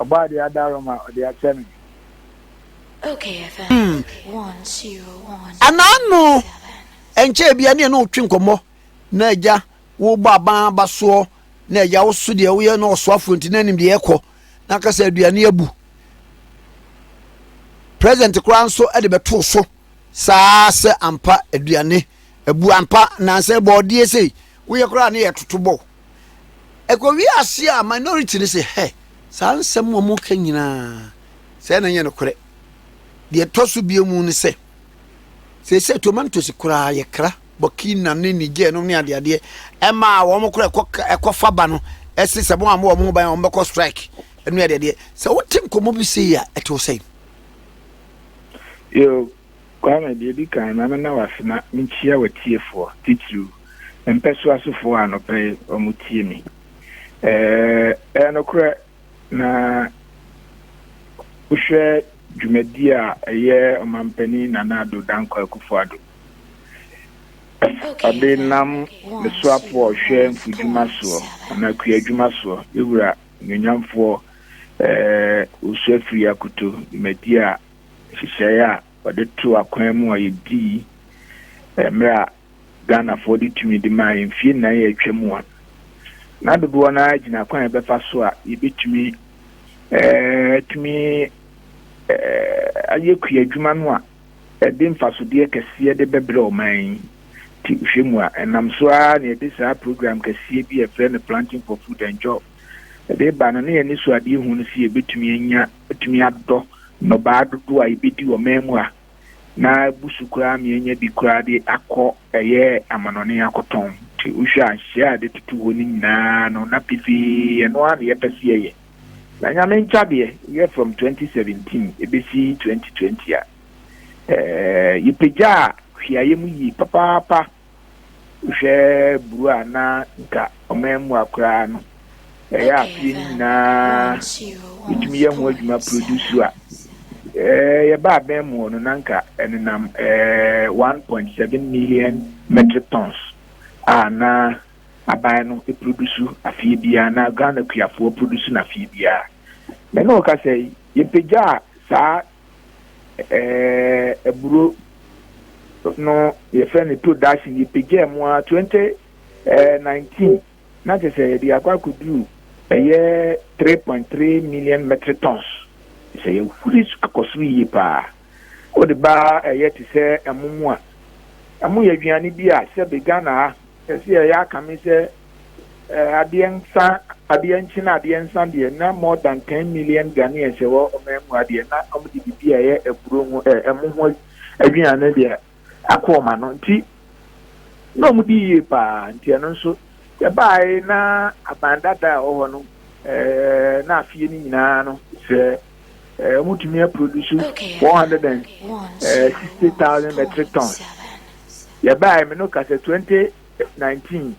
Ɔbaa deɛ ada rɔ ma ɔde akyɛ me. Hmm. Anaano ɛnkyɛ ebia ne ɛne wotwe nkɔmmɔ na agya wobɔ aban aba soɔ na agya wo so deɛ woyɛ na ɔsoafoɔ nti na anim deɛ ɛkɔ na aka sɛ aduane abu president koraa nso de bɛtoo so saa sɛ ampa aduane abu ampa nansa bɔɔdeɛ sei woyɛ koraa ne yɛtoto bɔ Ɛkɔwie aseɛ a minority no se hɛ, saa nsɛm a wɔka nyinaa sɛɛ na ɛnyɛ nokorɛ. Deɛ ɛtɔ so biom ne sɛ, seesei tomatoes koraa yɛkra, Burkina ne Niger nom ne adeadeɛ, ɛma a wɔn koraa ɛkɔ ɛkɔfa ba no ɛse sɛ wɔn a wɔn ho ban wɔn bɛkɔ strike ne adeadeɛ. Sɛ wote nkɔmmɔ bi sei a ɛte wo sɛn? Yo. Kwame, deɛ ɛdi kan, ma me na wo ase na menkyia w'atiefoɔ, titiriw, me mpɛsoasofoɔ a anɔpa yi wɔtie me. Ɛyɛ nokorɛ na wohwɛ dwumadie a ɛyɛ Ɔmampanin Nana Addo Dankwa Akufo-Addo ɔde nam ne soafoɔ a ɔhwɛ mfudwuma soɔ anaa kuadwuma soɔ, yɛn wura Onuonyamfoɔ Owusu Afriyie Akoto, dwumadie a nhyehyɛe a wɔde too akwan mu a yedii mmere a Ghanafoɔ de tumidi mae mfeɛ nnan a atwa mu a na dodoɔ no ara gyina kwan a yɛbɛfa so a yɛbɛtumi atumi ayɛ kuadwuma no a ɛde mfasodeɛ kɛseɛ de bɛbrɛ ɔman yi nti hwɛ mu a ɛnam so ara na yɛde saa program kɛseɛ bi a yɛfrɛ no planting for food and job ɛde ba no na yɛn anisoadeɛ hu no sɛ yɛbɛtumi anya Wobetumi adodɔ nnɔbaa dodow a yebedi wɔ man mu a na abu so koraa ama yɛanya bi koraa de akɔ ɛyɛ amanɔnne akɔtɔn. Nti wohwɛ a nhyehyɛe a yɛde toto hɔ no nyinaa no, na pefee ɛno ara na yɛpɛ sɛ yɛyɛ. Na Nyame nkyɛ adeɛ, woyɛ from twenty seventeen ɛbɛsi twenty twenty a, ɛɛ, yɛpagyaa hweayɛ mu yie papaapa. Wohwɛ buru a na nka ɔman mu akoraa no, ɛyɛ a fie no nyinaa ɛtumi yɛ ho adwuma produce a eh, yɛba abɛn mu hɔ no na nka ɛnenam eh, 1.7 million metric tons a na aban no produce afie biara na Ghana kuafoɔ produce no afie biara. Mene wo kasa yi, yɛpagyaa saa eh, aburo no yɛfrɛ no to dase yɛpagyaa mu a 2019 eh, na kyɛ sɛ yɛde akɔ akɔduru ɛyɛ 3.3 million metric tons sɛ yɛhuri akɔ soro yie paa wode baa ɛyɛ te sɛ ɛmo mu a ɛmo yɛ aduane bi a sɛ be ghana ha ɛsɛ yɛyɛ akame sɛ Adeɛ nsa adeɛ nkye na adeɛ nsa deɛ na more than ten million Ghanaians ɛwɔ ɔman mu ha deɛ na wɔn de bibi a ɛyɛ aburo ho ɛ ɛmo ho aduane deɛ akɔ wɔn ano nti na wɔn di yie paa nti ɛno nso yɛbaae na aban dada a ɛwɔ hɔ no ɛɛ na afie no nyinaa no sɛ ɛɛ wɔn tumi aproduce one hundred and sixty thousand metric tons yɛbaae mi no ka sɛ twenty. nineteen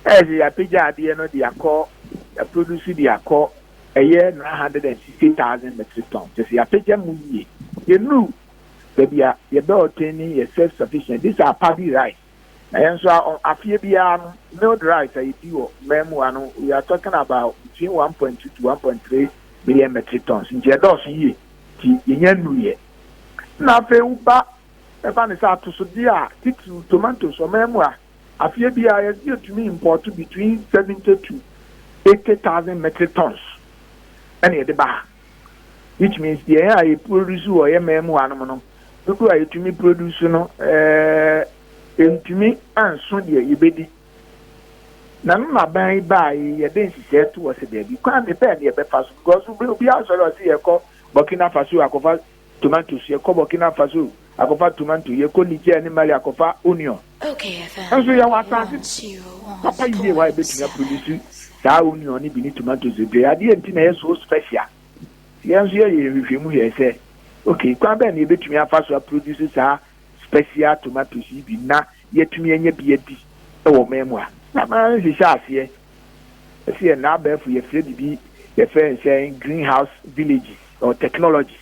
ɛyɛ sɛ yɛapagya adeɛ no de akɔ yɛaproduce de akɔ ɛyɛ nine hundred and sixty thousand metric ton kyɛ sɛ yɛapagya mu yie yɛnuru baabi a yɛbɛ ɔtɛn ni yɛ self sufficient this are paddy rice na yɛn nso afeɛ biara no milled rice a yɛdi wɔ mmaa mu ano we are talking about between one point two to one point three million metric tons nti ɛdɔɔso yie nti yɛnya nuru yɛ na afei woba Ɛba ne sɛ atosodeɛ a, titiriw tomatoes, ɔman mu a, afeɛ biara yɛse yɛtumi impɔɔto between 70 to 80 thousand metric tons ɛna yɛde ba ha. Which means yɛn a yɛ produce wɔ yɛ man mu hanom no, dodoɔ a yɛtumi produce no ɛɛ ntumi anso deɛ yɛbɛdi. Na no na ban yi baa yi yɛde nhyehyɛɛ to hɔ sɛ daabi, kwan bɛn na yɛbɛfa so because obiara sɔre ɔse yɛkɔ Burkina Faso akɔfa Tomanto so, yɛkɔ Burkina Faso akɔfa tomanto, yɛkɔ Niger ne Mali akɔfa onion. Nanso yɛwɔ asase papa yie hɔ a yɛbɛtumi aproduce saa onion no bi ne tomatoes bebree. Adeɛ nti na ɛyɛ so special? Yɛn nso yɛyɛ yɛn nhwehwɛmu hwɛɛ sɛ, ok, kwan bɛn na yɛbɛtumi afa so aproduce saa special tomatoes yi bi na yɛatumi anya bi adi wɔ ɔman mu a? Na manhyehyɛ aseɛ Ɛsɛ n'abɛɛfo yɛfrɛ bibi yɛfrɛ nsɛ green house villages or technologies.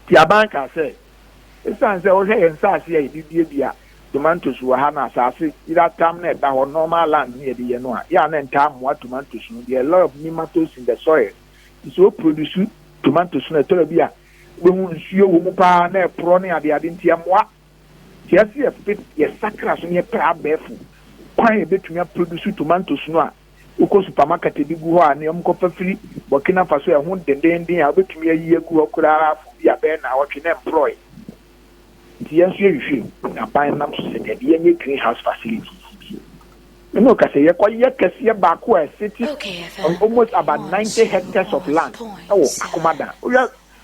Ti aban kaa sɛ esan sɛ wohwɛ yɛ nsaase a yɛde dua dua tomantos wɔ ha no asaase yera tam na ɛda hɔ normal land ne yɛde yɛ no a yɛ a na ntaa mmoa tomantos no deɛ lot of nematodes in the soil ti sɛ o produce tomantos no ɛtɔrɔ bi a wobɛhu nsuo wɔ mu paa na ɛporɔ ne adeade nti ɛmmoa Yɛ se yɛ fit, yɛ sakra so na yɛ pɛ abɛɛfo kwan a yɛ bɛtumi a produce tomatoes no a wo kɔ supermarket de gu hɔ a nea wɔn kɔ fa firi Burkina Faso a ɛho dendeenden a wo bɛtumi ayi agu hɔ koraa for bi a bɛyɛ naawɔtwe na ɛmprɔɔe. Nti yɛn nso yɛ hwehwɛ mu na ban nam so sɛ dabi yɛ nyɛ green house facilities yi bi. Ɛna ɔka sɛ yɛ kɔ yɛ kɛseɛ baako a ɛsete on almost about 90 hectares of land ɛwɔ Akomadan. Wo hwɛ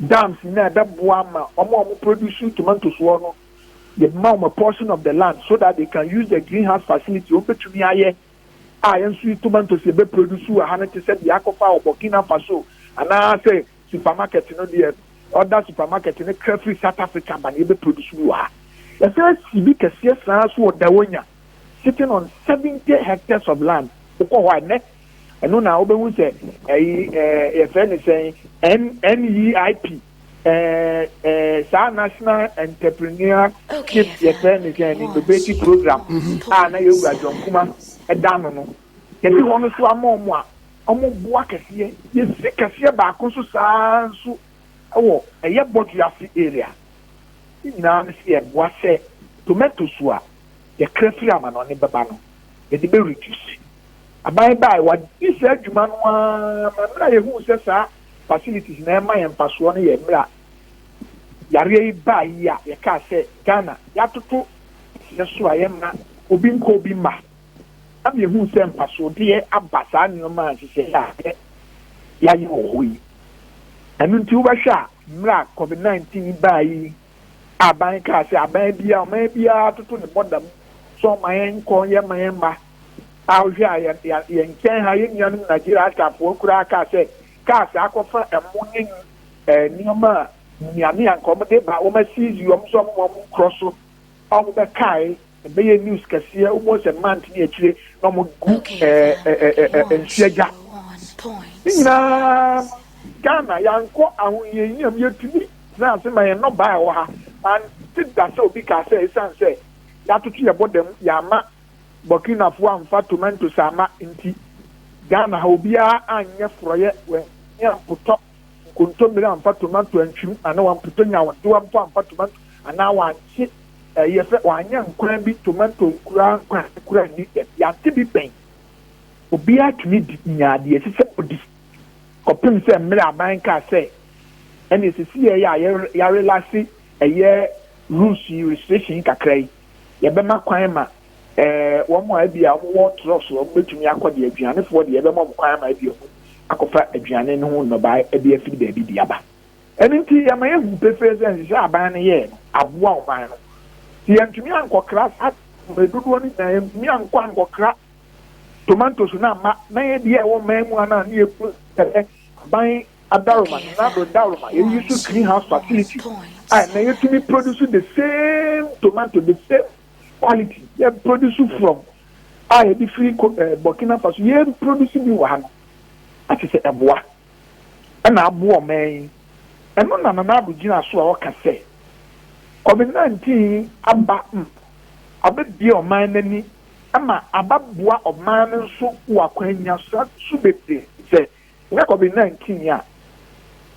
Dams no a ɛbɛboa ama wɔn a wɔn produce tomatoes wɔ no yɛ ma wɔn a portion of the land so that they can use the green house facility wɔn bɛtumi ayɛ a yɛn nso yi tomatoes yɛbɛ produce wɔ ha no te sɛ deɛ akɔfa wɔ Burkina Faso anaa sɛ supermarket no deɛ ɔda supermarket no kra firi South Africa ba no yɛbɛ produce bi wɔ ha. Yɛsan si bi kɛseɛ saa nso wɔ Dawonya. sitting on seventy hectares of land wokɔ hɔ a nnɛ ɛno na wobɛhu sɛ ɛyi ɛɛ yɛfrɛ ne sɛn NEIP ɛɛ ɛɛ saa national entrepreneur ship yɛfrɛ ne sɛn innovative program mm-hmm. a na yɛwura John Kuma ɛda no no yɛde wɔn no so ama wɔn a wɔn boa kɛseɛ yɛsi kɛseɛ baako nso saa nso ɛwɔ ɛyɛ bɔdwe ase area ne nyinaa no sɛ yɛboa sɛ tomato so a yɛkra firi amanɔne bɛba no, yɛde bɛ reduce. Aban bae, wɔadi saa dwuma no ara ma mmerɛ a yɛhuu sɛ saa facilities na ɛma yɛn mfasoɔ no yɛ mmerɛ a yareɛ yi baa yi a yɛkaa sɛ Ghana yɛatoto teɛ so a yɛmma obi nkɔ obi mma. Nam yɛhuu sɛ mfasoɔdeɛ aba saa nneɛma a nhyehyɛeɛ a yɛ yɛayɛ wɔ hɔ yi. Ɛno nti wobɛhwɛ a mmerɛ a Covid 19 yi baa yi Aban kaa sɛ aban biara, ɔman biara toto ne bɔda mu sɛ ɔma yɛn nkɔ yɛn ma yɛn mma. A wohwɛ a yɛn yɛn nkyɛn ha yɛn nuanom Nigeria asafoɔ koraa kaa sɛ cars akɔfa ɛmo ne ɛɛ nneɛma a nnuane a nka wɔn de ba wɔn asisi wɔn nso wɔn wɔn nkorɔ so a wɔn bɛkae. Ɛbɛyɛ news kɛseɛ wo bɔ sɛ month ne akyire na ɔmo gu ɛɛ nsuo agya ne nyinaa Ghana yankɔ ahohiahia mu yɛtumi tena ase ma yɛn nnɔbaa ɛwɔ ha mante da sɛ obi kaa sɛ ɛsiane sɛ yɛatoto yɛ bɔda mu yɛama Burkinafoɔ amfa tomatoes ama nti Ghana ha obiara anyɛ forɔyɛ wɔ ne ampotɔ Nkontommire amfa tomanto antwim anaa wampotɔ nyawondewa mpo amfa tomanto anaa wankye ɛɛ yɛ fɛ wanyɛ nkwan bi tomanto nkuraa nkwan nkuraa nni dɛm yɛate bi pɛn. Obiara tumi di nyaa deɛ ɛsɛ sɛ ɔdi kɔpem sɛ mmerɛ aban kaa sɛ ɛneɛ sɛsi yɛɛyɛ a yɛrelase ɛyɛ rules yi restriction yi kakra yi. Yɛbɛma kwan ma wɔn a ebia wɔwɔ trɔk so a wɔbɛtumi akɔ de aduanefoɔ deɛ yɛbɛma wɔn kwan ma ebia wɔn akɔfa aduane no ho nnɔbaeɛ de afiri baabi de aba. Ɛno nti yɛma yɛhu pefee sɛ nhyehyɛ aban no yɛɛ no aboa ɔman no. Sɛ yɛntumi ankɔkra saa mmerɛ dodoɔ no nyinaa yɛntumi ankɔ ankɔkra tomatoes no amma na yɛdeɛ ɛwɔ man mu anaa ne yɛkunu sɛ aban Adaroma, Nenado Daroma, yɛyi nso greenhouse facility a ɛnɛ yɛtumi produce the same tomato, the same quality, yɛ produce from a yɛde firi eh, Burkina Faso, yɛ produce bi wɔ ha no, ate sɛ ɛboa, ɛna aboa ɔman yi. Ɛno na Nanado gyina so a ɔka sɛ COVID-19 aba m abɛbie ɔman no ani ma abɛboa ɔman no nso wɔ akwannya so bebree sɛ Yakob nna ntii a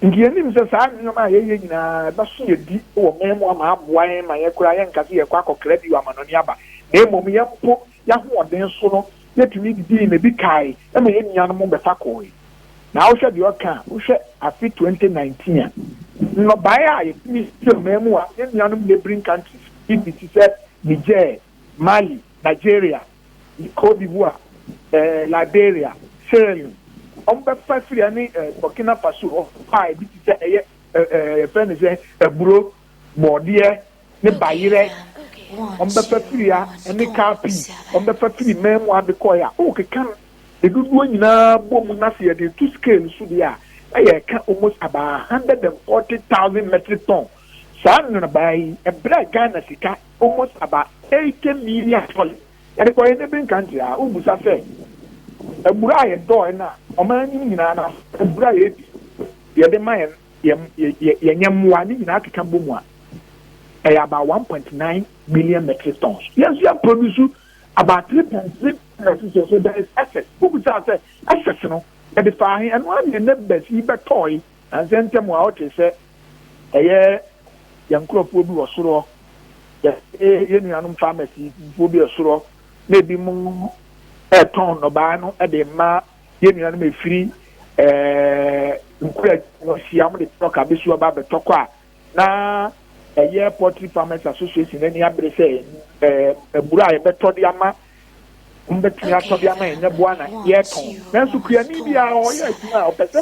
nka yenim sɛ saa nneɛma a yɛyɛ nyinaa ɛbɛso yɛn bi wɔ man mu ama aboa yɛn ma yɛn koraa yɛnka sɛ yɛrekɔ akɔkra bio amanɔne aba, na mmom yɛn mpo yɛn ahoɔden so no yɛtumi didii na ebi kae ma yɛn nuanom bɛfa kɔe. Na wohwɛ deɛ ɔka a, wohwɛ afe 2019 a, nnɔbaeɛ a yɛtumi yɛ wɔ man mu a yɛn nuanom neighbouring countries bi te sɛ Niger, Mali, Nigeria, Cote d'Ivoire, Liberia, Sierra Leone, wɔbɛfa firi ha ne Burkina Faso hɔ a ebi te sɛ ɛyɛ yɛfrɛ no sɛ aburo, bɔɔdeɛ ne bayerɛ, wɔbɛfa firi ha ne car pii, wɔbɛfa firi mɛnmu ade kɔɛ a wokeka no ne dodoɔ nyinaa bɔ mu na sɛ yɛde to scale so deɛ a na yɛka almost about 140,000 metric ton saa nnɔnabaa yi ɛbrɛ Ghana sika almost about eighty million dollars yɛde kɔ yɛn neighboring country a wobusa sɛ abura a yɛdɔɔe no a ɔman anim nyinaa no abura a yɛdi yɛde ma yɛn yɛn nyɛmmoa ne nyinaa keka bɔ mu a ɛyɛ about one point nine million metric tons yɛn nso yɛ produce about three point three metric tons so there is excess wobusa sɛ excess no yɛde fa ahe ɛno ara na yɛn neighbors yi bɛtɔɔe Nansɛ ntɛm a ɔtee sɛ ɛyɛ yɛn nkorɔfoɔ bi wɔ soro hɔ, yɛne yɛn nuanom pharmacyfoɔ bi wɔ soro hɔ na ebi mo retɔn nnɔbaeɛ no de rema yɛn nuanom ɛfiri ɛɛ nkura wɔ hyia wɔn de truck abɛsi hɔ ba abɛtɔ kɔ a na ɛyɛ poultry farmers association no ani abere sɛ ɛɛ mmura a yɛbɛtɔ de ama wɔbɛtumi atɔ de ama yɛn nyɛboa na yɛtɔn nanso kuani biara ɔyɛ adwuma a ɔpɛ sɛ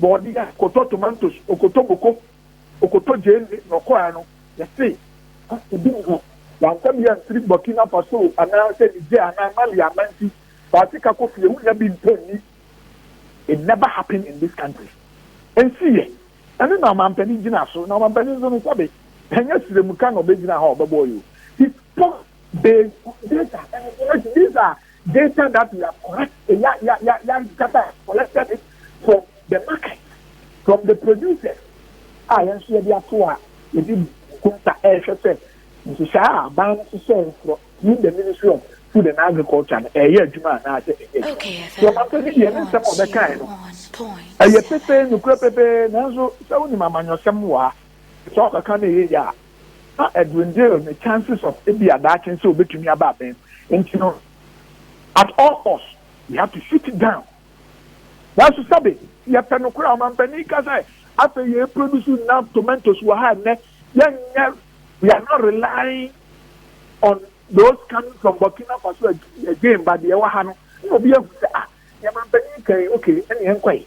bɔɔdeɛ, ɔkɔtɔ tomantos, ɔkɔtɔ moko, ɔkɔtɔ gyeene na ɔkɔɔɛ no, yɛse ha ebi nni hɔ. Wamfa bi amfiri Burkina Faso anaa sɛ Niger anaa Mali amma nti, fa sika kɔ fie, wonnya bi ntɔ nni. It never happen in this country. Ɛnsiiɛ. Ɛno na ɔmanpanin gyina so, na ɔmanpanin nso no sɛbe, ɛnyɛ srɛmuka na ɔbɛgyina hɔ a ɔbɛbɔ yɛ o. He spoke. They data and information. These are data that we have collected, yeah, yeah, yeah, yeah, data collected it from the market, from the producers. Ah, yẹn nso yẹ di ato a yẹ di kunta ẹhwẹ sẹ nhyehyẹ a aban no hyehyẹ nkorọ through the ministry of food and agriculture no ẹyẹ adwuma anaasẹ ẹyẹ adwuma. Sọ ma pẹ bi di ẹni nsẹm ọbẹ kan no ẹyẹ pẹpẹ nukura pẹpẹ nanso sẹ wọn nim amanyɔsɛm wɔ ha sọ ọbẹ kan na ẹyẹ yẹ a. na Edwin Dale ne chances of ebia daakye sɛ obetumi aba abɛn no nti no, at all cost we have to shoot it down. Nanso sɛbe yɛpɛ no koraa, ɔmanpanin ka sɛ afei yɛ produce enough tomatoes wɔ ha nnɛ, yɛnyɛ, we are not relying on those coming from Burkina Faso again but deɛ ɛwɔ ha no, na obi ahu sɛ ah, deɛ manpanin ka yi, okay, ɛne yɛnkɔ yi.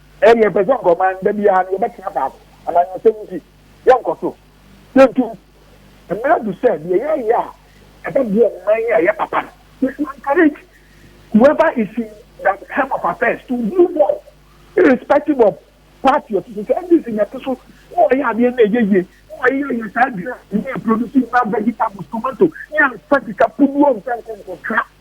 Ɛɛ yɛ pɛ sɛ ɔkɔ man da biara no yɛ bɛ tena faako anaa yɛ ɔsɛm nti yɛ nkɔ so yɛ ntu mmerɛ adu sɛ deɛ yɛ yɛ a ɛbɛ boɔ man yɛ yɛ papa no we should encourage whoever is in that helm of affairs to do more irrespective of party ɔte so sɛ NDC na ɛte so na ɔyɛ adeɛ na ɛyɛ yie na ɔyɛ yɛ yɛ saa dura ne yɛ produce na vegetables tomato ne amfa sika puduo mfa nkɔ nkɔ tra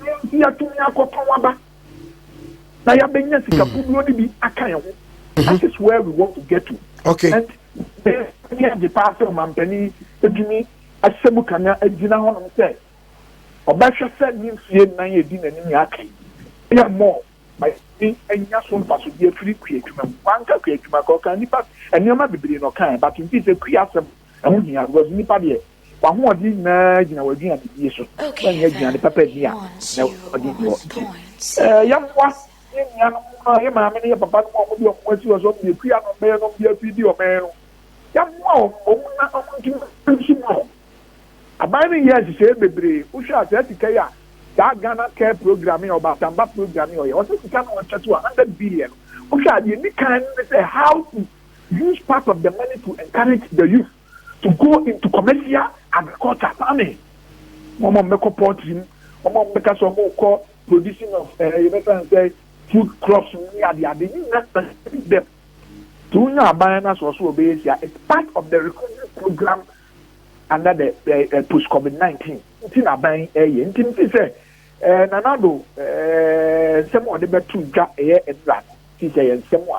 Ɛno nti yɛatumi akɔtɔn aba na yɛabɛnya sika hmm. buduo no bi aka yɛn ho mhm. that is where we want to get to okay and ɛni agye paa sɛ ɔmampanin atumi ahyɛ mu kanya agyina hɔ nom sɛ ɔbɛhwɛ sɛ ne mfie nnan yɛ di n'anim yɛ aka yi ɛyɛ mɔɔ ɛni anya so mfasodeɛ firi kua adwuma mu wanka kua adwuma kɔ ɔka nipa nneɛma bebree na ɔka yɛ but nti sɛ kua asɛm Ɛho hia because nipa deɛ w'ahoɔden nyinaa gyina w'aduanedie so. W'annya aduane papa nni a na w'ahoɔden wɔ nti. Ɛɛ yɛmmoa yɛn nuanom no a yɛn maame ne yɛn papa nom a wɔde wɔn asi hɔ sɛ wɔn deɛ kua na wɔbɛyɛ na wɔn de afiri di ɔman no. Yɛmmoa wɔn wɔn na wɔn nti nso mu no. Aban no nyɛɛ nhyehyɛeɛ bebree. Wohwɛ a saa sika yi a saa Ghana Care Program yi a Ɔbaasamba Program yi a ɔyɛ ɔsɛ sika no a wɔkyɛ to a hundred billion no wohwɛ a deɛ ɛdi kan no ne sɛ how to Use part of the money to encourage the youth to go into commercial agriculture, farming. Wɔn a wɔbɛkɔ poultry mu, wɔn a wɔbɛka sɛ wɔkɔ producing of ɛɛ eh, yɛbɛfrɛ no sɛ food crops mu ne ade ade ne nyinaa encourage them. To wonya aban no asɔ so ɔbɛyɛ sia, it's part of the recovery program under the uh, eh, eh, post covid nineteen. nti na aban ɛyɛ nti mi fi sɛ ɛɛ nanado ɛɛ nsɛm a ɔde bɛto dwa ɛyɛ mmira no fi sɛ yɛ nsɛm a.